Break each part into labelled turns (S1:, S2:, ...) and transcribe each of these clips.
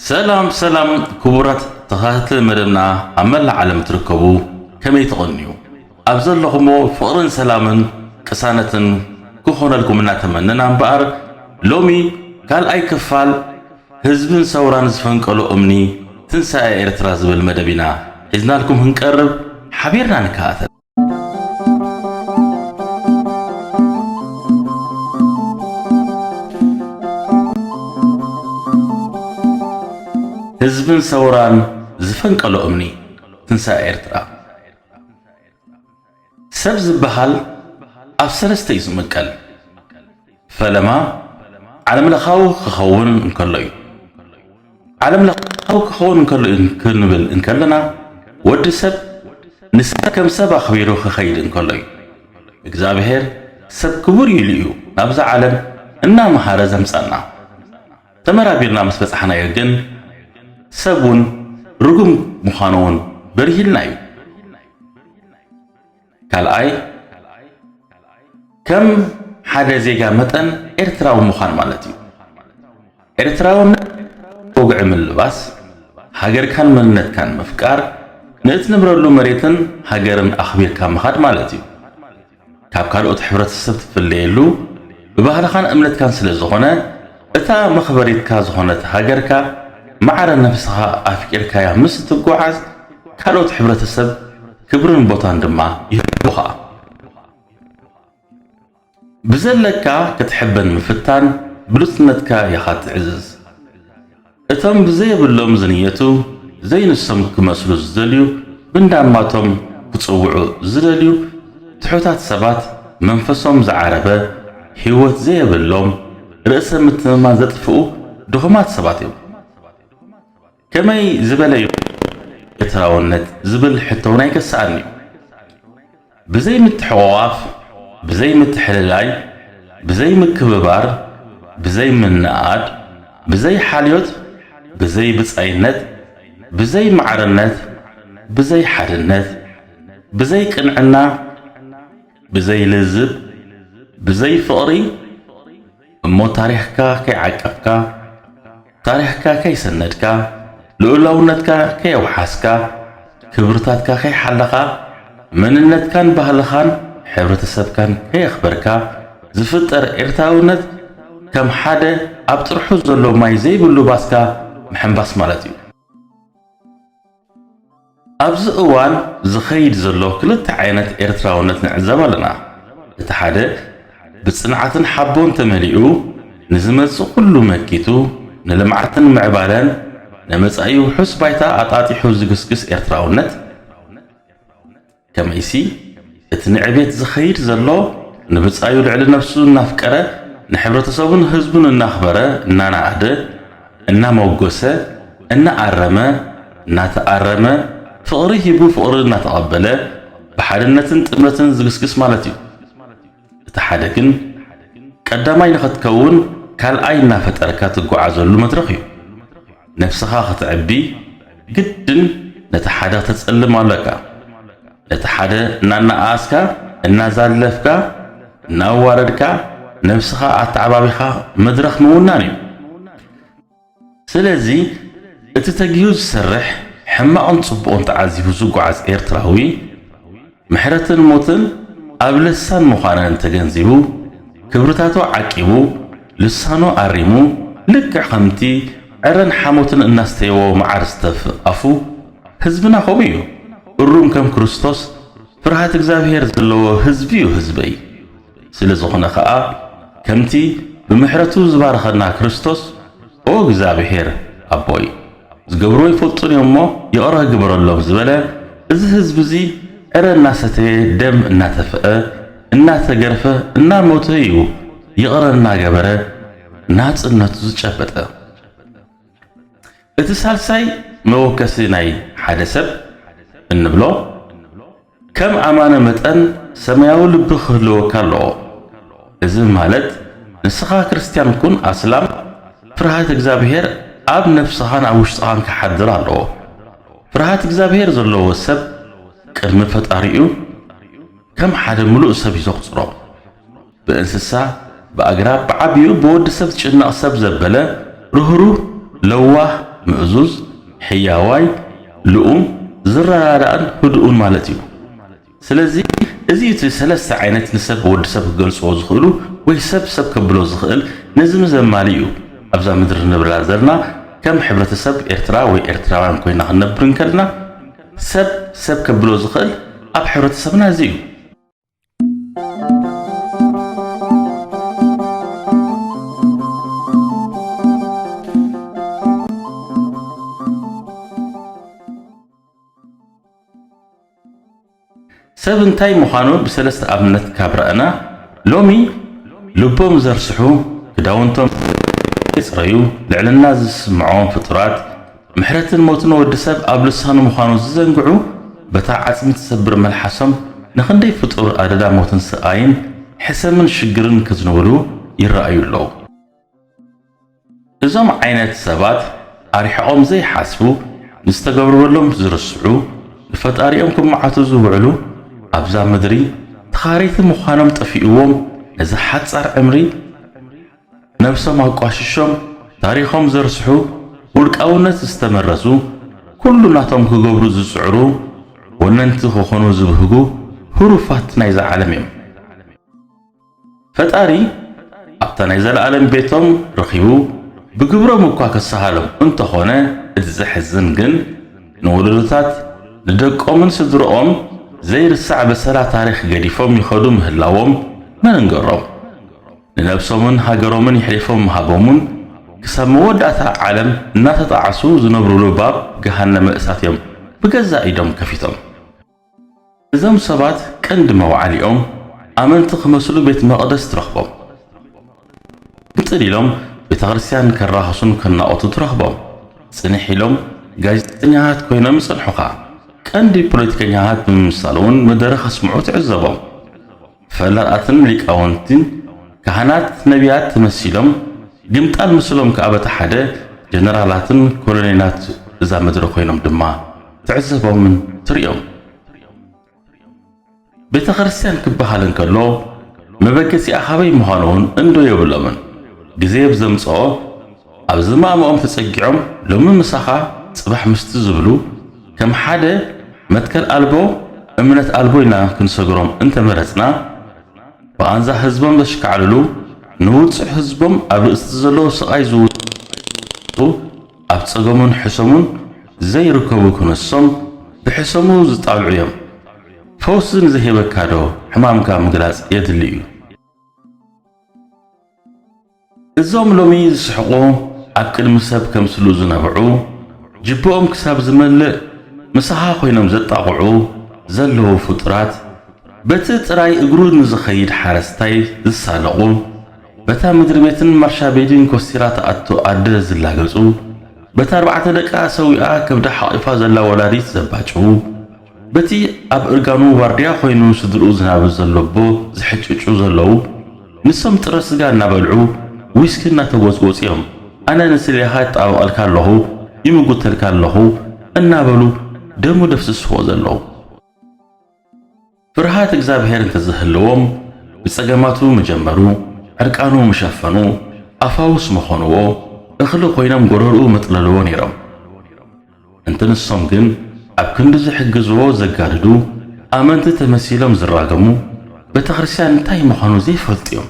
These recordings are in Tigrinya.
S1: ሰላም ሰላም ክቡራት ተኸታተልቲ መደብና ኣብ መላእ ዓለም እትርከቡ ከመይ ትቐንዩ? ኣብ ዘለኹሞ ፍቕርን ሰላምን ቅሳነትን ክኾነልኩም እናተመነና እምበኣር ሎሚ ካልኣይ ክፋል ህዝብን ሰውራን ዝፈንቀሎ እምኒ ትንሳኤ ኤርትራ ዝብል መደብ ኢና ሒዝናልኩም ክንቀርብ ሓቢርና ንከኣተል። ህዝብን ሰውራን ዝፈንቀሎ እምኒ ትንሳኤ ኤርትራ ሰብ ዝበሃል ኣብ ሰለስተ እዩ ዝምቀል። ፈለማ ዓለምለኻዊ ክኸውን እንከሎ እዩ። ዓለምለኻዊ ክኸውን እንከሎ እዩ ክንብል እንከለና ወዲ ሰብ ንሰብ ከም ሰብ ኣኽቢሩ ክኸይድ እንከሎ እዩ። እግዚኣብሔር ሰብ ክቡር ኢሉ እዩ ናብዛ ዓለም እናመሃረ ዘምፀና። ተመራሚርና ምስ በጻሕናዮ ግን ሰብ እውን ርጉም ምዃኑ እውን በሪህልና እዩ። ካልኣይ ከም ሓደ ዜጋ መጠን ኤርትራዊ ምዃን ማለት እዩ። ኤርትራውነት ወግዒ ምልባስ፣ ሃገርካን መንነትካን ምፍቃር፣ ንእትነብረሉ መሬትን ሃገርን ኣኽቢርካ ምኻድ ማለት እዩ። ካብ ካልኦት ሕብረተሰብ ትፍለየሉ ብባህልኻን እምነትካን ስለ ዝኾነ እታ መኽበሪትካ ዝኾነት ሃገርካ ማዕረ ነብስኻ ኣፍቂርካያ ምስ እትጓዓዝ ካልኦት ሕብረተሰብ ክብርን ቦታን ድማ ይህቡኻ። ብዘለካ ክትሕበን ምፍታን ብሉጽነትካ ኢኻ ትዕዝዝ። እቶም ብዘየብሎም ዝንየቱ፣ ዘይንሶም ክመስሉ ዝደልዩ፣ ብእንዳማቶም ክጽውዑ ዝደልዩ ትሑታት ሰባት፣ መንፈሶም ዝዓረበ፣ ህይወት ዘየብሎም፣ ርእሰ ምትእምማን ዘጥፍኡ ድኹማት ሰባት እዮም። ከመይ ዝበለ'ዩ ኤርትራውነት ዝብል ሕቶ'ውን ኣይከስኣን'ዩ። ብዘይ ምትሕቑቛፍ፣ ብዘይ ምትሕልላይ፣ ብዘይ ምክብባር፣ ብዘይ ምንእኣድ፣ ብዘይ ሓልዮት፣ ብዘይ ብጻይነት፣ ብዘይ ማዕርነት፣ ብዘይ ሓድነት፣ ብዘይ ቅንዕና፣ ብዘይ ልዝብ፣ ብዘይ ፍቕሪ፣ እሞ ታሪኽካ ከይዓቀብካ፣ ታሪኽካ ከይሰነድካ፣ ልኡላውነትካ ከየውሓስካ፣ ክብርታትካ ከይሓለኻ፣ መንነትካን ባህልኻን ሕብረተሰብካን ከየኽበርካ ዝፍጠር ኤርትራውነት ከም ሓደ ኣብ ጥርሑ ዘሎ ማይ ዘይብሉ ባስካ ምሕምባስ ማለት እዩ። ኣብዚ እዋን ዝኸይድ ዘሎ ክልተ ዓይነት ኤርትራውነት ንዕዘብ ኣለና። እቲ ሓደ ብጽንዓትን ሓቦን ተመሊኡ ንዝመጽእ ኩሉ መኪቱ ንልምዓትን ምዕባለን ንመጻኢ ውሑስ ባይታ ኣጣጢሑ ዝግስግስ ኤርትራውነት፣ ከመይሲ እቲ ንዕቤት ዝኸይድ ዘሎ ንብጻዩ ልዕሊ ነፍሱ እናፍቀረ ንሕብረተሰቡን ህዝቡን እናኽበረ እናነኣደ እናመጎሰ እናኣረመ እናተኣረመ ፍቕሪ ሂቡ ፍቕሪ እናተቐበለ ብሓድነትን ጥምረትን ዝግስግስ ማለት እዩ። እቲ ሓደ ግን ቀዳማይ ንኽትከውን ካልኣይ እናፈጠርካ ትጓዓዘሉ መድረኽ እዩ። ነብስኻ ኽትዕቢ ግድን ነቲ ሓደ ኽተጸልም ኣሎካ። ነቲ ሓደ እናነኣኣስካ፣ እናዛለፍካ፣ እናኣዋረድካ ነብስኻ ኣተዓባቢኻ መድረኽ ምውናን እዩ። ስለዚ እቲ ተጊሁ ዝሰርሕ ሕማቕን ጽቡቕን ተዓዚቡ ዝጓዓዝ ኤርትራዊ ምሕረትን ሞትን ኣብ ልሳን ምዃነን ተገንዚቡ ክብርታቱ ዓቂቡ ልሳኑ ኣሪሙ ልክዕ ከምቲ ዕረን ሓሞትን እናስተየዎ መዓር ዝተፍእ ኣፉ ህዝብና ከምኡ እዩ እሩም ከም ክርስቶስ ፍርሃት እግዚኣብሄር ዘለዎ ህዝቢ'ዩ ህዝበይ። ስለዝኾነ ከኣ ከምቲ ብምሕረቱ ዝባረኸና ክርስቶስ ኦ እግዚኣብሔር ኣቦይ ዝገብርዎ ኣይፈልጡን እዮም እሞ ይቕረ ግበረሎም ዝበለ እዚ ህዝቢ እዚ ዕረ እናሰተየ ደም እናተፍአ እናተገርፈ እናሞተ እዩ ይቕረ እናገበረ ናጽነቱ ዝጨበጠ። እቲ ሳልሳይ መወከሲ ናይ ሓደ ሰብ እንብሎ ከም ኣማነ መጠን ሰማያዊ ልቢ ክህልወካ ኣለዎ እዚ ማለት ንስኻ ክርስትያን ኩን ኣስላም ፍርሃት እግዛብሄር ኣብ ነብስኻን ኣብ ውሽጥኻን ክሓድር ኣለዎ ፍርሃት እግዛብሄር ዘለዎ ሰብ ቅድሚ ፈጣሪኡ ከም ሓደ ምሉእ ሰብ እዩ ዘቁጽሮ ብእንስሳ፣ ብኣግራብ፣ ብዓቢኡ ብወዲ ሰብ ዝጭነቕ ሰብ ዘበለ፣ ርህሩህ፣ ለዋህ፣ ምእዙዝ፣ ሕያዋይ፣ ልኡም፣ ዝረዳዳእን ህዱእን ማለት እዩ። ስለዚ እዚ እቲ ሰለስተ ዓይነት ንሰብ ወዲ ሰብ ክገልጽዎ ዝኽእሉ ወይ ሰብ ሰብ ከብሎ ዝኽእል ነዚም ዘማልእ እዩ። ኣብዛ ምድሪ ንነብረላ ዘርና ከም ሕብረተሰብ ኤርትራ ወይ ኤርትራውያን ኮይና ክንነብር እንከልና ሰብ ሰብ ከብሎ ዝኽእል ኣብ ሕብረተሰብና እዚ እዩ። ሰብ እንታይ ምዃኑ ብሰለስተ ኣብነት ካብ ረኣና፣ ሎሚ ልቦም ዘርስሑ፣ ክዳውንቶም ዘይጽረዩ፣ ልዕልና ዝስምዖም ፍጡራት፣ ምሕረትን ሞትን ወዲ ሰብ ኣብ ልሳኑ ምዃኑ ዝዘንግዑ በታ ዓጽሚ ትሰብር መልሓሶም ንኽንደይ ፍጡር ኣደዳ ሞትን ስቓይን ሕሰምን ሽግርን ከዝንብሉ ይረኣዩ ኣለዉ። እዞም ዓይነት ሰባት ኣርሒቖም ዘይሓስቡ፣ ንዝተገብርበሎም ዝርስዑ፣ ንፈጣሪኦም ክመዓቱ ዝውዕሉ ኣብዛ ምድሪ ተኻረይቲ ምዃኖም ጠፊኡዎም ነዛ ሓጻር ዕምሪ፣ ነብሶም ኣቋሽሾም ታሪኾም ዘርስሑ ውልቃውነት ዝተመረዙ ኩሉ ናቶም ክገብሩ ዝጽዕሩ ወነንቲ ክኾኑ ዝብህጉ ህሩፋት ናይዛ ዓለም እዮም። ፈጣሪ ኣብታ ናይ ዘለኣለም ቤቶም ረኺቡ ብግብሮም እኳ ክሰሃሎም እንተኾነ እቲ ዘሕዝን ግን ንወለዶታት ንደቆምን ስድርኦም ዘይርሳዕ በሰላ ታሪኽ ገዲፎም ይኸዱ ምህላዎም መን እንገሮም። ንነብሶምን ሃገሮምን የሕሊፎም ምሃቦምን ክሳብ መወዳእታ ዓለም እናተጣዓሱ ዝነብሩሉ ባብ ገሃነመ እሳት እዮም ብገዛእ ኢዶም ከፊቶም። እዞም ሰባት ቀንዲ መውዓሊኦም ኣመንቲ ክመስሉ ቤት መቕደስ ትረኽቦም። ግምጥል ኢሎም ቤተክርስትያን ከራኽሱን ከናቖቱን ትረኽቦም። ጽንሕ ኢሎም ጋዜጠኛታት ኮይኖም ይጸንሑኻ። ቀንዲ ፖለቲከኛታት ብምምሳል'ውን መደረ ከስምዑ ትዕዘቦም። ፈለቓትን ሊቃውንቲን ካህናት ነቢያት ተመሲሎም ግምጣል ምስሎም ከኣ በቲ ሓደ ጀነራላትን ኮሎኔላት እዛ ምድሪ ኮይኖም ድማ ትዕዘቦምን ትርእዮም። ቤተ ክርስቲያን ክበሃል እንከሎ መበገሲኣ ካበይ ምዃኑ'ውን እንዶ የብሎምን። ግዜ ብዘምጽኦ ኣብ ዝማምኦም ተጸጊዖም ሎሚ ምሳኻ ጽባሕ ምስቲ ዝብሉ ከም ሓደ መትከል ኣልቦ እምነት ኣልቦ ኢልና ክንሰግሮም እንተመረጽና ብቓንዛ ህዝቦም ዘሽካዕልሉ ንውጹዕ ህዝቦም ኣብ ርእስቲ ዘለዎ ስቓይ ዝውጽዑ ኣብ ጸገሙን ሕሰሙን ዘይርከቡ ክነሶም ብሕሰሙ ዝጣልዑ እዮም ፈውሲ ንዘይህበካዶ ሕማምካ ምግላጽ የድሊ እዩ። እዞም ሎሚ ዝስሕቑ ኣብ ቅድሚ ሰብ ከምስሉ ዝነብዑ ጅብኦም ክሳብ ዝመልእ ምሳኻ ኮይኖም ዘጣቕዑ ዘለዉ ፍጡራት በቲ ጥራይ እግሩ ንዝኸይድ ሓረስታይ ዝሳለቑ በታ ምድሪቤትን ማርሻቤድን ኮስቲራ ትኣቱ ኣደ ዝላገጹ በታ ኣርባዕተ ደቃ ሰዊኣ ከብዳ ሓቒፋ ዘላ ወላዲት ዘባጭዉ በቲ ኣብ እርጋኑ ዋርድያ ኮይኑ ስድርኡ ዝናብር ዘሎ ኣቦ ዝሕጭጩ ዘለዉ ንሶም ጥረ ስጋ እናበልዑ ዊስኪ እናተጎጽጎጹ እዮም ኣነ ንስሌኻ ይጣበቐልካ ኣለኹ ይምጉተልካ ኣለኹ እናበሉ ደሙ ደፍስስዎ ዘለዉ። ፍርሃት እግዝኣብሄር እንተዘህለዎም ብጸገማቱ ምጀመሩ ዕርቃኑ ምሸፈኑ ኣፋውስ ምኾንዎ እኽሊ ኮይኖም ጎረርኡ መጥለልዎ ኔሮም። እንተ ንሶም ግን ኣብ ክንዲ ዝሕግዝዎ ዘጋድዱ፣ ኣመንቲ ተመሲሎም ዝራገሙ፣ ቤተክርስትያን እንታይ ምዃኑ ዘይፈልጡ እዮም።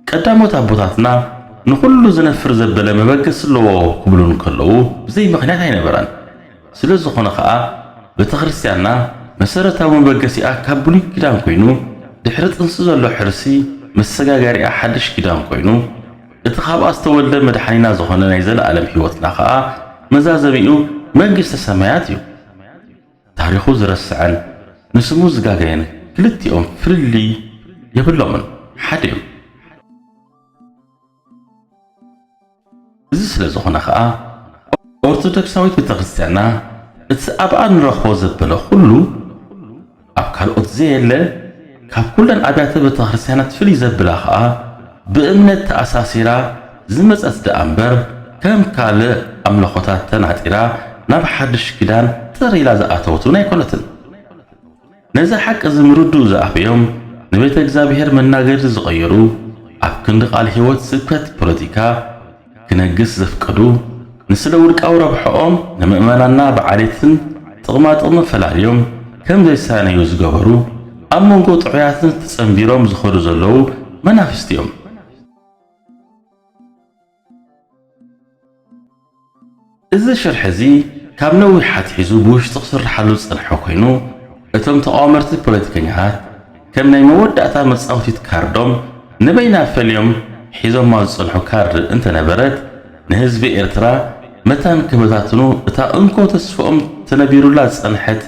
S1: ቀዳሞት ኣቦታትና ንኹሉ ዝነፍር ዘበለ መበገሲ ኣለዎ ክብሉ እንከለዉ ብዘይ ምኽንያት ኣይነበረን። ስለ ዝኾነ ከኣ ቤተክርስትያንና መሰረታዊ መበገሲኣ ካብ ብሉይ ኪዳን ኮይኑ ድሕሪ ጥንሲ ዘሎ ሕርሲ መሰጋገሪኣ ሓድሽ ኪዳን ኮይኑ እቲ ካብኣ ዝተወልደ መድሓኒና ዝኾነ ናይ ዘለኣለም ሕይወትና ከኣ መዛዘሚኡ መንግስተ ሰማያት እዩ። ታሪኹ ዝረስዐን ንስሙ ዝጋገየን ክልቲኦም ፍልልይ የብሎምን ሓደ እዮም። እዚ ስለ ዝኾነ ከኣ ኦርቶዶክሳዊት ቤተክርስቲያንና እቲ ኣብኣ ንረኽቦ ዘበለ ኩሉ፣ ኣብ ካልኦት ዘየለ ካብ ኩለን ኣብያተ ቤተክርስትያናት ፍልይ ዘብላ ከኣ ብእምነት ተኣሳሲራ ዝመጸት ደኣ እምበር ከም ካልእ ኣምልኾታት ተናጢራ ናብ ሓድሽ ኪዳን ጥር ኢላ ዝኣተወት እውን ኣይኮነትን። ነዚ ሓቂ እዚ ምርድኡ ዝኣበዮም ንቤተ እግዚኣብሔር መናገሪ ዝቐየሩ ኣብ ክንዲ ቃል ሕይወት ስብከት ፖለቲካ ክነግስ ዘፍቀዱ ንስለ ውልቃዊ ረብሐኦም ንምእመናና ብዓሌትን ጥቕማጥቕሚ ፈላልዮም ከም ዘይሳነዩ ዝገበሩ ኣብ መንጎ ጥዑያትን ተጸንቢሮም ዝኸዱ ዘለዉ መናፍስት እዮም። እዚ ሽርሒ እዚ ካብ ነዊሕ ኣትሒዙ ብውሽጢ ክስርሓሉ ዝጸንሐ ኮይኑ፣ እቶም ተቓወመርቲ ፖለቲከኛታት ከም ናይ መወዳእታ መጻውቲት ካርዶም ንበይና ፈልዮም ሒዞማ ዝጸንሑ ካርድ እንተነበረት፣ ንህዝቢ ኤርትራ መታን ክበታትኑ እታ እንኮ ተስፍኦም ተነቢሩላ ዝጸንሐት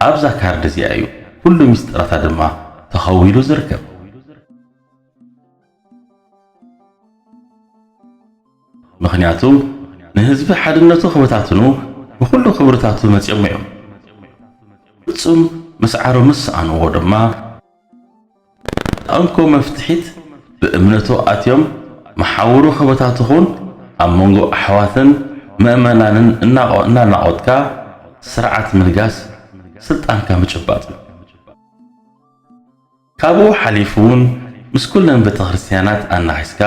S1: ኣብዛ ካርድ እዚኣ እዩ። ኩሉ ሚስጥራታ ድማ ተኸዊሉ ዝርከብ። ምኽንያቱ ንህዝቢ ሓድነቱ ክበታትኑ ብኹሉ ክብርታቱ መጺኦሞ እዮም። ፍጹም ምስዓሩ ምስ ሰኣንዎ ድማ ነታ እንኮ መፍትሒት ብእምነቱ ኣትዮም መሓውሩ ክበታትኹን ኣብ መንጎ ኣሕዋትን መእመናንን እናናቖትካ ስርዓት ምንጋስ ስልጣንካ ምጭባጥ እዩ። ካብኡ ሓሊፉ ውን ምስ ኩለን ቤተክርስትያናት ኣናኺስካ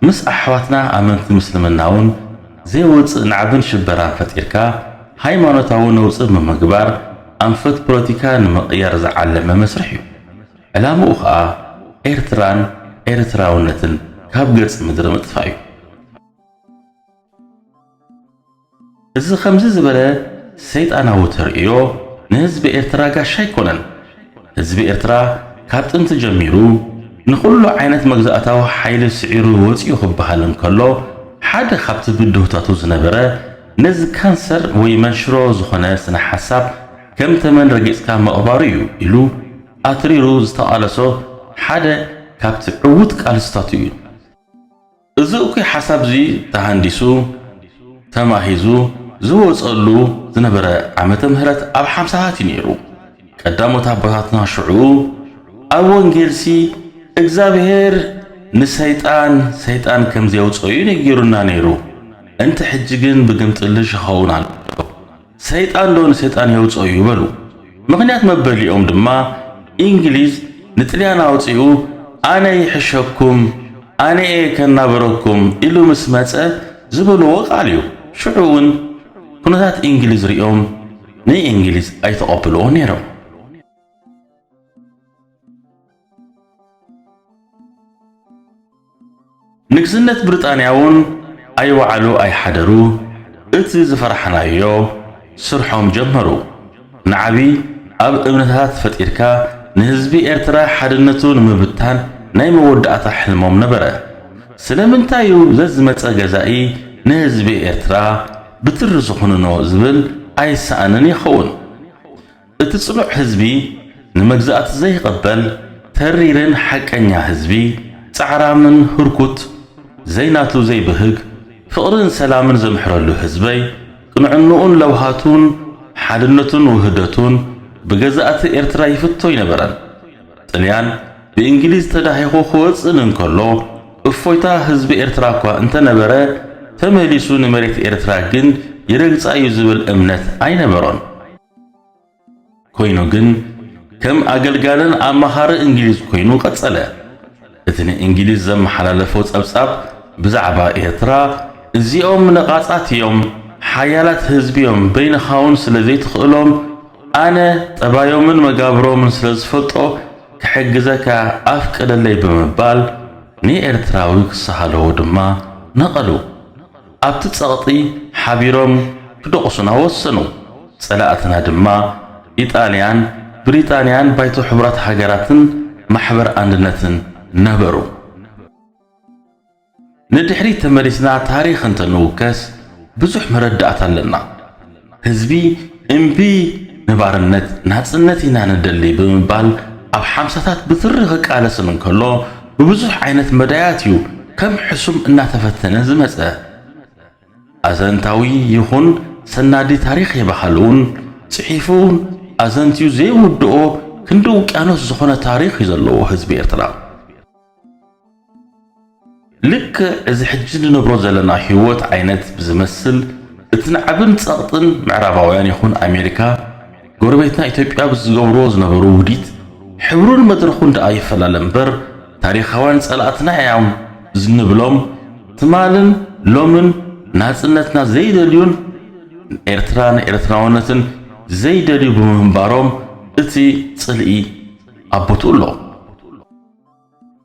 S1: ምስ ኣሕዋትና ኣመንቲ ምስልምና ውን ዘይወጽእ ናዕብን ሽበራን ፈጢርካ ሃይማኖታዊ ነውጺ ብምግባር ኣንፈት ፖለቲካ ንምቕያር ዝዓለመ መስርሕ ዩ። ዕላምኡ ከኣ ኤርትራን ኤርትራውነትን ካብ ገጽ ምድሪ ምጥፋእ ዩ። እዚ ከምዚ ዝበለ ሰይጣናዊ ተርእዮ ንህዝቢ ኤርትራ ጋሻ ኣይኮነን። ህዝቢ ኤርትራ ካብ ጥንቲ ጀሚሩ ንኹሉ ዓይነት መግዛእታዊ ሓይሊ ስዒሩ ወጺኡ ክበሃል እንከሎ ሓደ ካብቲ ብድሆታቱ ዝነበረ ነዚ ካንሰር ወይ መንሽሮ ዝኾነ ስነ-ሓሳብ ከም ተመን ረጊጽካ ምቕባሩ እዩ ኢሉ ኣትሪሩ ዝተቓለሶ ሓደ ካብቲ ዕዉት ቃልስታቱ እዩ። እዚ እኩይ ሓሳብ'ዚ ተሃንዲሱ፣ ተማሂዙ፣ ዝወጸሉ ዝነበረ ዓመተ ምህረት ኣብ ሓምሳታት እዩ ነይሩ። ቀዳሞት ኣቦታትና ሽዑ ኣብ ወንጌልሲ እግዚኣብሔር ንሰይጣን ሰይጣን ከምዘየውጽኦ'ዩ ነጊሩና ነይሩ፣ እንተ ሕጂ ግን ብግምጥልሽ ይኸውን ኣሎ። ሰይጣን ዶ ንሰይጣን የውጽኦ እዩ በሉ። ምኽንያት መበሊኦም ድማ ኢንግሊዝ ንጥልያን ኣውጺኡ ኣነ ይሕሸኩም ኣነ'የ ከናብረኩም ኢሉ ምስ መጸ ዝበልዎ ቃል እዩ። ሽዑ ውን ኩነታት ኢንግሊዝ ርእዮም ንኢንግሊዝ ኣይተቐብልዎን ነይሮም። ንግስነት ብሪጣንያ'ውን ኣይወዓሉ ኣይሓደሩ እቲ ዝፈራሕናዮ ስርሖም ጀመሩ። ንዓቢ ኣብ እምነታት ፈጢርካ ንህዝቢ ኤርትራ ሓድነቱ ንምብታን ናይ መወዳእታ ሕልሞም ነበረ። ስለምንታይ'ዩ ዘዝመጸ ገዛኢ ንህዝቢ ኤርትራ ብትሪ ዝኹንኖ ዝብል ኣይሰኣንን ይኸውን። እቲ ጽኑዕ ህዝቢ ንመግዛእቲ ዘይቕበል ተሪርን ሓቀኛ ህዝቢ ጻዕራምን ህርኩት ዘይናቱ ዘይብህግ ፍቕርን ሰላምን ዘምሕረሉ ህዝበይ ቅንዕንኡን ለውሃቱን ሓድነቱን ውህደቱን ብገዛእቲ ኤርትራ ይፍቶ ኣይነበረን ጥልያን ብእንግሊዝ ተዳሂኹ ክወጽእን እንከሎ እፎይታ ህዝቢ ኤርትራ እኳ እንተነበረ ተመሊሱ ንመሬት ኤርትራ ግን ይረግጻ እዩ ዝብል እምነት ኣይነበሮን። ኮይኑ ግን ከም ኣገልጋልን ኣማኻሪ እንግሊዝ ኮይኑ ቀጸለ። እቲ ንእንግሊዝ ዘመሓላለፎ ጸብጻብ ብዛዕባ ኤርትራ እዚኦም ነቓጻት እዮም፣ ሓያላት ህዝቢ እዮም፣ በይንኻውን ስለ ዘይትኽእሎም ኣነ ጠባዮምን መጋብሮምን ስለ ዝፈልጦ ክሕግዘካ ኣፍቅደለይ ብምባል ንኤርትራዊ ክሰሃለዎ ድማ ነቐሉ። ኣብቲ ጸቕጢ ሓቢሮም ክደቑሱና ወሰኑ። ጸላእትና ድማ ኢጣልያን ብሪጣንያን ባይቶ ሕቡራት ሃገራትን ማሕበር ኣንድነትን ነበሩ። ንድሕሪት ተመሊስና ታሪኽ እንተ ንውከስ ብዙሕ መረዳእታ ኣለና። ህዝቢ እምቢ ንባርነት ናጽነት ኢና ንደሊ ብምባል ኣብ ሓምሳታት ብትሪ ክቃለስን እንከሎ ብብዙሕ ዓይነት መዳያት እዩ ከም ሕሱም እናተፈተነ ዝመጸ። ኣዘንታዊ ይኹን ሰናዲ ታሪኽ የባህልውን ጽሒፉውን ኣዘንትዩ ዘይውድኦ ክንዲ ውቅያኖስ ዝኾነ ታሪኽ እዩ ዘለዎ ህዝቢ ኤርትራ። ልክዕ እዚ ሕጂ ንነብሮ ዘለና ህይወት ዓይነት ብዝመስል እቲ ናዕብን ጸቕጥን ምዕራባውያን ይኹን ኣሜሪካ ጎረቤትና ኢትዮጵያ ብዝገብርዎ ዝነበሩ ውዲት ሕብሩን መድረኹን ደኣ ይፈላለ እምበር ታሪኻውያን ጸላእትና እዮም ዝንብሎም ትማልን ሎምን ናጽነትና ዘይደልዩን ንኤርትራን ኤርትራውነትን ዘይደልዩ ብምንባሮም እቲ ጽልኢ ኣብ ቦትኡ ኣሎ።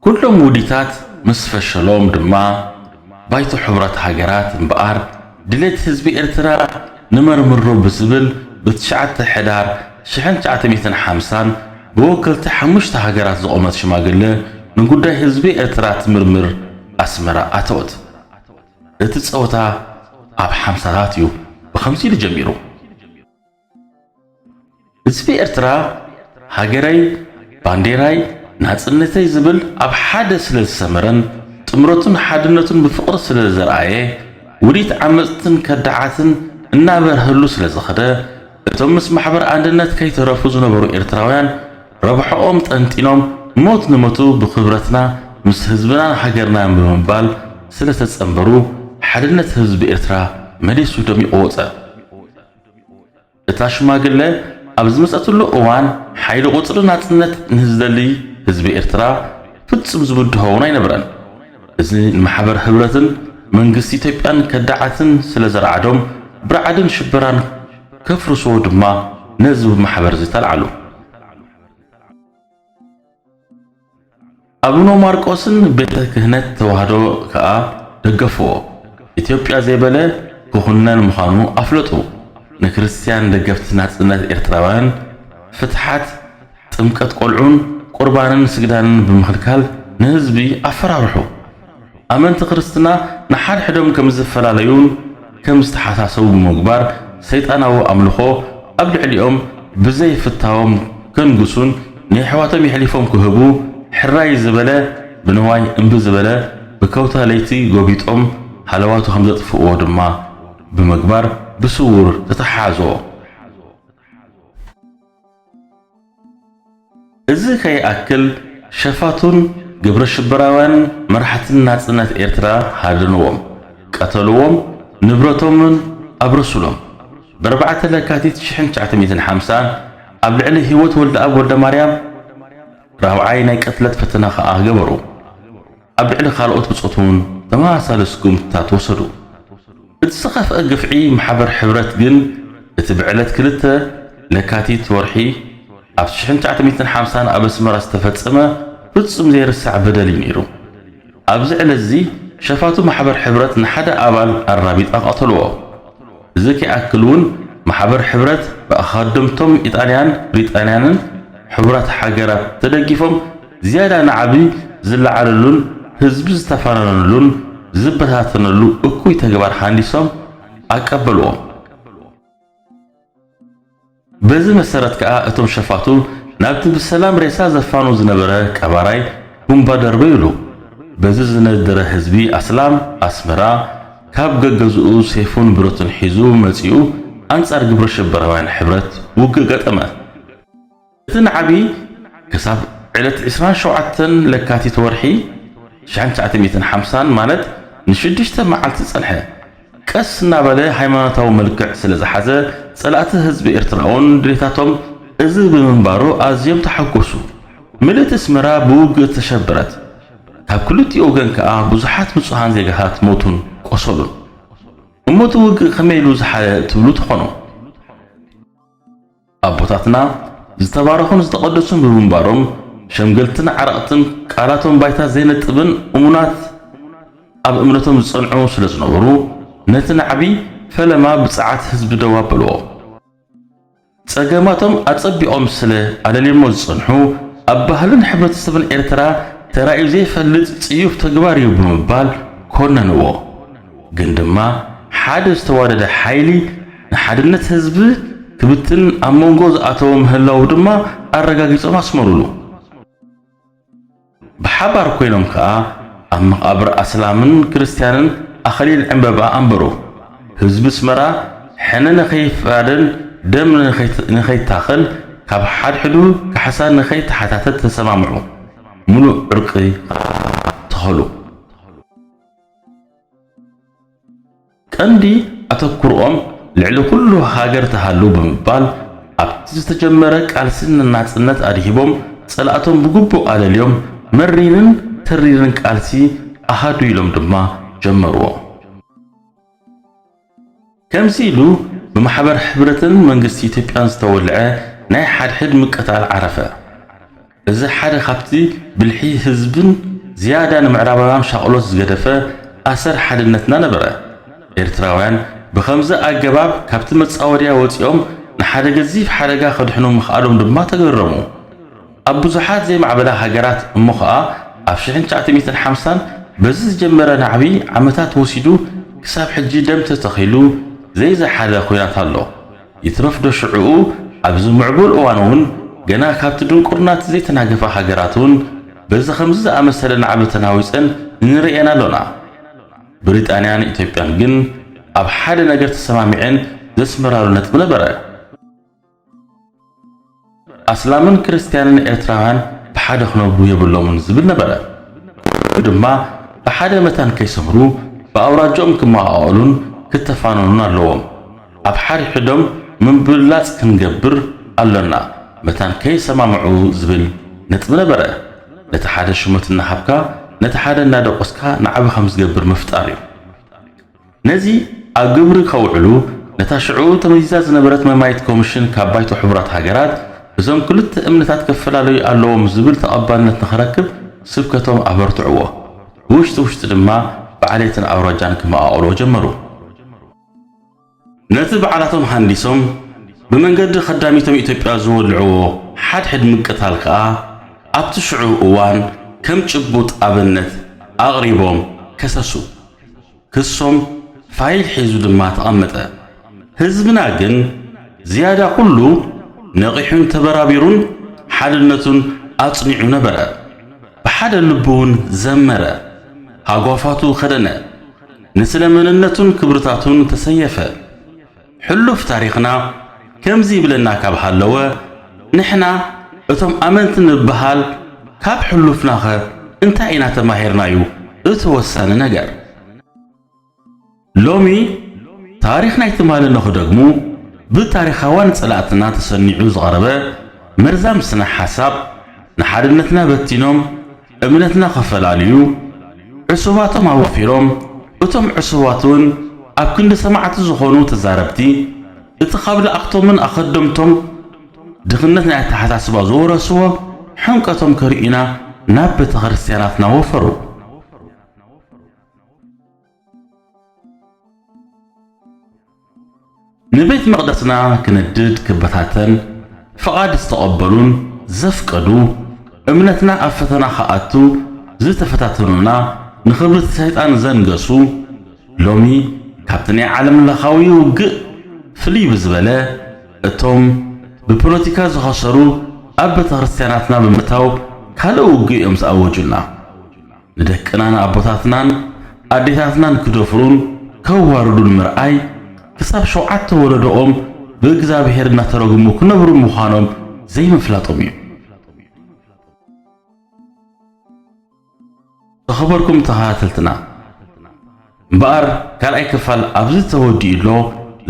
S1: ኩሎም ውዲታት ምስ ፈሸሎም ድማ ባይቶ ሕቡራት ሃገራት እምበኣር ድሌት ህዝቢ ኤርትራ ንመርምሮ ብዝብል ብ ትሽዓተ ሕዳር ሽሕን ትሽዓተ ሚእትን ሓምሳን ብወከልቲ ሓሙሽተ ሃገራት ዝቖመት ሽማግለ ንጉዳይ ህዝቢ ኤርትራ ትምርምር ኣስመራ ኣተወት። እቲ ጸወታ ኣብ ሓምሳታት እዩ ብኸምዚ ኢሉ ጀሚሩ። ህዝቢ ኤርትራ ሃገረይ ባንዴራይ ናጽነተይ ዝብል ኣብ ሓደ ስለ ዝሰመረን ጥምረቱን ሓድነቱን ብፍቕሪ ስለ ዘርኣየ ውዲት ዓመጽትን ከዳዓትን እናበርሀሉ ስለ ዝኸደ እቶም ምስ ማሕበር ኣንድነት ከይተረፉ ዝነበሩ ኤርትራውያን ረብሐኦም ጠንጢኖም ሞት ንሞቱ ብኽብረትና ምስ ህዝብናን ሃገርናን ብምባል ስለ ተጸንበሩ ሓድነት ህዝቢ ኤርትራ መሊሱ ደሚቑ ወጸ። እታ ሽማግለ ኣብ ዝመጸትሉ እዋን ሓይሊ ቁጽሪ ናጽነት ንዝደሊ ህዝቢ ኤርትራ ፍጹም ዝብድሆ እውን ኣይነበረን። እዚ ንማሕበር ህብረትን መንግስቲ ኢትዮጵያን ከዳዓትን ስለ ዘርዓዶም ብርዓድን ሽበራን ከፍርስዎ ድማ ነዚ ማሕበር እዚ ተልዓሉ። ኣቡነ ማርቆስን ቤተ ክህነት ተዋህዶ ከኣ ደገፍዎ። ኢትዮጵያ ዘይበለ ክኹነን ምዃኑ ኣፍለጡ። ንክርስትያን ደገፍቲ ናጽነት ኤርትራውያን ፍትሓት ጥምቀት ቆልዑን ቁርባንን ስግዳንን ብምኽልካል ንህዝቢ ኣፈራርሑ። ኣመንቲ ክርስትና ንሓድሕዶም ከም ዝፈላለዩን ከም ዝተሓሳሰቡ ብምግባር ሰይጣናዊ ኣምልኾ ኣብ ልዕሊኦም ብዘይ ፍታዎም ከንግሱን ንየሕዋቶም የሕሊፎም ክህቡ ሕራይ ዝበለ ብንዋይ እምቢ ዝበለ ብከውታ ለይቲ ጎቢጦም ሃለዋቱ ከም ዘጥፍእዎ ድማ ብምግባር ብስዉር ተተሓሓዝዎ። እዚ ከይኣክል ሸፋቱን ግብረሽበራውያንን መራሕቲ ናጽነት ኤርትራ ሃደንዎም፣ ቀተልዎም፣ ንብረቶምን ኣብረሱሎም። ብኣርባዕተ ለካቲት ሽሕን ትሽዓተ ሚእትን ሓምሳን ኣብ ልዕሊ ሂወት ወልደኣብ ወልደማርያም ራብዓይ ናይ ቅትለት ፈተና ከኣ ገበሩ። ኣብ ልዕሊ ካልኦት ብጾት እውን ተመሳሳሊ ስጉምትታት ወሰዱ። እቲ ዝኸፍኣ ግፍዒ ማሕበር ሕብረት ግን እቲ ብዕለት ክልተ ለካቲት ወርሒ ኣብ ሽሕን ትሽዓተ ሚእትን ሓምሳን ኣብ ኣስመራ ዝተፈጸመ ፍጹም ዘይርሳዕ በደል እዩ ነይሩ። ኣብዚ ዕለትዚ ሸፋቱ ማሕበር ሕብረት ንሓደ ኣባል ኣራቢጣ ቀተልዎ። እዚ ከይኣክል እውን ማሕበር ሕብረት ብኣኻደምቶም ኢጣልያን ብሪጣንያንን ሕቡራት ሃገራት ተደጊፎም ዝያዳ ናዕቢ ዝለዓለሉን ህዝቢ ዝተፋነነሉን ዝበታተነሉ እኩይ ተግባር ሃንዲሶም ኣቀበልዎም። በዚ መሰረት ከኣ እቶም ሸፋቱ ናብቲ ብሰላም ሬሳ ዘፋኑ ዝነበረ ቀባራይ ቡምባ ደርበዩሉ። በዚ ዝነደረ ህዝቢ ኣስላም ኣስመራ ካብ ገገዝኡ ሴፉን ብረቱን ሒዙ መጺኡ ኣንጻር ግብረሽበራውያን ሕብረት ውግእ ገጠመ። እቲ ናዕቢ ክሳብ ዕለት ዕስራን ሸውዓተን ለካቲት ወርሒ ትሽዓን ትሽዓተ ሚእትን ሓምሳን ማለት ንሽዱሽተ መዓልቲ ጸንሐ። ቀስ እናበለ ሃይማኖታዊ መልክዕ ስለ ዝሓዘ፣ ጸላእቲ ህዝቢ ኤርትራ'ውን ድሌታቶም እዚ ብምንባሩ ኣዝዮም ተሓጐሱ። ምልእቲ ኣስመራ ብውግእ ተሸበረት። ካብ ክልቲኡ ወገን ከኣ ብዙሓት ንጹሃን ዜጋታት ሞቱን ቆሰሉን። እሞ'ቲ ውግእ ከመይ ኢሉ ዝሓለ ትብሉ ትኾኑ። ኣቦታትና ዝተባረኹን ዝተቐደሱን ብምንባሮም ሸምገልትን ዓረቕትን ቃላቶም ባይታ ዘይነጥብን እሙናት ኣብ እምነቶም ዝጸንዑ ስለ ዝነበሩ ነቲ ናዕቢ ፈለማ ብጸዓት ህዝቢ ደው ኣበልዎ። ጸገማቶም ኣጸቢቖም ስለ ኣለልዮሞ ዝጸንሑ ኣብ ባህልን ሕብረተሰብን ኤርትራ ተራእዩ ዘይፈልጥ ጽዩፍ ተግባር እዩ ብምባል ኮነንዎ። ግን ድማ ሓደ ዝተዋደደ ሓይሊ ንሓድነት ህዝቢ ክብትን ኣብ መንጎ ዝኣተወ ምህላዉ ድማ ኣረጋጊጾም ኣስመሩሉ። ብሓባር ኮይኖም ከኣ ኣብ መቓብር ኣስላምን ክርስትያንን ኣኸሊል ዕምበባ ኣንበሩ። ህዝቢ ኣስመራ ሕነ ንኸይፋደን ደም ንኸይታኸን ካብ ሓድሕዱ ካሕሳ ንኸይተሓታተት ተሰማምዑ። ምሉእ ዕርቂ ከኣ ተኸሉ። ቀንዲ ኣተኩርኦም ልዕሊ ኩሉ ሃገር ትሃሉ ብምባል ኣብቲ ዝተጀመረ ቃልሲ ንናጽነት ኣድሂቦም ጸላእቶም ብግቡእ ኣለልዮም መሪርን ተሪርን ቃልሲ ኣሃዱ ኢሎም ድማ ጀመርዎ። ከምዚ ኢሉ ብማሕበር ሕብረትን መንግስቲ ኢትዮጵያን ዝተወልዐ ናይ ሓድሕድ ምቅታል ዓረፈ። እዚ ሓደ ካብቲ ብልሒ ህዝብን ዝያዳ ንምዕራባውያን ሻቕሎት ዝገደፈ ኣሰር ሓድነትና ነበረ። ኤርትራውያን ብኸምዚ ኣገባብ ካብቲ መጻወድያ ወጺኦም ንሓደ ገዚፍ ሓደጋ ከድሕኑ ምኽኣሎም ድማ ተገረሙ። ኣብ ብዙሓት ዘይማዕበላ ሃገራት እሞ ኸኣ ኣብ ሽሕን ትሽዓተ ሚእትን ሓምሳን በዚ ዝጀመረ ናዕቢ ዓመታት ወሲዱ ክሳብ ሕጂ ደም ተተኺሉ ዘይዘሓለ ኹናት ኣሎ። ይትረፍዶ ሽዕኡ ኣብዚ ምዕቡል እዋን'ውን ገና ካብቲ ድንቁርና'ቲ ዘይተናገፋ ሃገራት'ውን በዚ ከምዚ ዝኣመሰለ ናዕቢ ተናዊጸን እንርእየን ኣሎና። ብሪጣንያን ኢትዮጵያን ግን ኣብ ሓደ ነገር ተሰማሚዐን ዘስምራሉ ነጥቢ ነበረ። ኣስላምን ክርስትያንን ኤርትራውያን ብሓደ ክነብሩ የብሎምን ዝብል ነበረ። ኩሉ ድማ ብሓደ መታን ከይሰምሩ ብኣውራጃኦም ክመቓቐሉን ክተፋነኑን ኣለዎም። ኣብ ሓድሕዶም ምብልላጽ ክንገብር ኣሎና መታን ከይሰማምዑ ዝብል ነጥቢ ነበረ። ነቲ ሓደ ሹመት እናሃብካ ነቲ ሓደ እናደቖስካ ንዓቢ ከም ዝገብር ምፍጣር እዩ። ነዚ ኣብ ግብሪ ከውዕሉ ነታ ሽዑ ተመዚዛ ዝነበረት መማዪት ኮሚሽን ካብ ባይቶ ሕቡራት ሃገራት እዞም ክልተ እምነታት ከፈላለዩ ኣለዎም ዝብል ተቐባልነት ንኸረክብ ስብከቶም ኣበርትዕዎ። ብውሽጢ ውሽጢ ድማ ብዓሌትን ኣውራጃን ክመቓቕልዎ ጀመሩ። ነቲ ባዕላቶም ሃንዲሶም ብመንገዲ ከዳሚቶም ኢትዮጵያ ዝወልዕዎ ሓድሕድ ምቅታል ከኣ ኣብቲ ሽዑ እዋን ከም ጭቡጥ ኣብነት ኣቕሪቦም ከሰሱ። ክሶም ፋይል ሒዙ ድማ ተቐመጠ። ህዝብና ግን ዝያዳ ኩሉ ነቒሑን ተበራቢሩን ሓድነቱን ኣጽኒዑ ነበረ። ብሓደ ልቢውን ዘመረ፣ ሃጓፋቱ ከደነ፣ ንስለ መንነቱን ክብርታቱን ተሰየፈ። ሕሉፍ ታሪኽና ከምዚ ይብለና ካብ ሃለወ፣ ንሕና እቶም ኣመንቲ ንብሃል ካብ ሕሉፍናኸ እንታይ ኢና ተማሂርና'ዩ እቲ ወሳኒ ነገር። ሎሚ ታሪኽ ናይ ትማሊ ንኽደግሙ ብታሪኻውያን ጸላእትና ተሰኒዑ ዝቐረበ መርዛም ስነ-ሓሳብ ንሓድነትና በቲኖም፣ እምነትና ኸፈላልዩ ዕሱባቶም ኣወፊሮም፣ እቶም ዕሱባትውን ኣብ ክንዲ ሰማዕቲ ዝኾኑ ተዛረብቲ፣ እቲ ኻብ ለኣኽቶምን ኣኸደምቶም ድኽነት ናይ ኣተሓሳስባ ዝወረስዎ ሕምቀቶም ከርእዩና ናብ ቤተክርስትያናትና ወፈሩ። ንቤት መቕደስና ክነድድ ክበታተን ፍቓድ ዝተቐበሉን ዘፍቀዱ፣ እምነትና ኣብ ፈተና ክኣቱ ዝተፈታተኑና፣ ንኽብሪ ሰይጣን ዘንገሱ፣ ሎሚ ካብቲ ናይ ዓለምለኻዊ ውግእ ፍልይ ብዝበለ እቶም ብፖለቲካ ዝኸሰሩ ኣብ ቤተክርስትያናትና ብምእታው ካልእ ውግእ'ዮም ዝኣወጁልና። ንደቅናን ኣቦታትናን ኣዴታትናን ክደፍሩን ከዋርዱን ምርኣይ ክሳብ ሸውዓተ ወለዶኦም ብእግዝኣብሄር እናተረግሙ ክነብሩ ምዃኖም ዘይምፍላጦም እዩ። ዝኸበርኩም ተኸታተልትና! እምበኣር ካልኣይ ክፋል ኣብዚ ተወዲኡ ኣሎ፣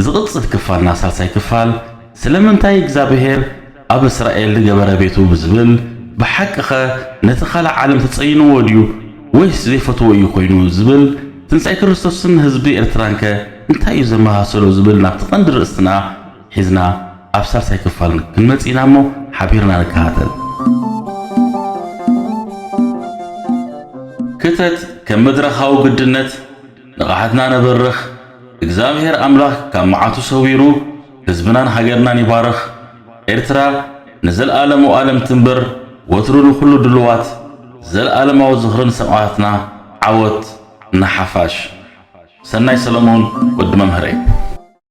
S1: ዝቕጽል ክፋል እና ሳልሳይ ክፋል ስለምንታይ እግዝኣብሄር ኣብ እስራኤል ዝገበረ ቤቱ ብዝብል ብሓቂኸ ነቲ ካልእ ዓለም ተጸይንዎ ድዩ ወይስ ዘይፈትዎ እዩ ኮይኑ ዝብል ትንሳኤ ክርስቶስን ህዝቢ ኤርትራንከ እንታይ እዩ ዘመሳሰሎ ዝብል ናብቲ ቀንዲ ርእስትና ሒዝና ኣብ ሳልሳይ ክፋል ክንመጽእ ኢና እሞ ሓቢርና ንከታተል። ክተት ከም መድረኻዊ ግድነት ንቕሓትና ነበርኽ። እግዝኣብሄር ኣምላኽ ካብ መዓቱ ሰዊሩ ህዝብናን ሃገርናን ይባርኽ። ኤርትራ ንዘልኣለም ኦኣለም ትንበር ወትሩ ንኹሉ ድሉዋት። ዘልኣለማዊ ዝኽሪ ንሰማእታትና ዓወት ንሓፋሽ። ሰናይ ሰለሙን ወዲ መምህረይ።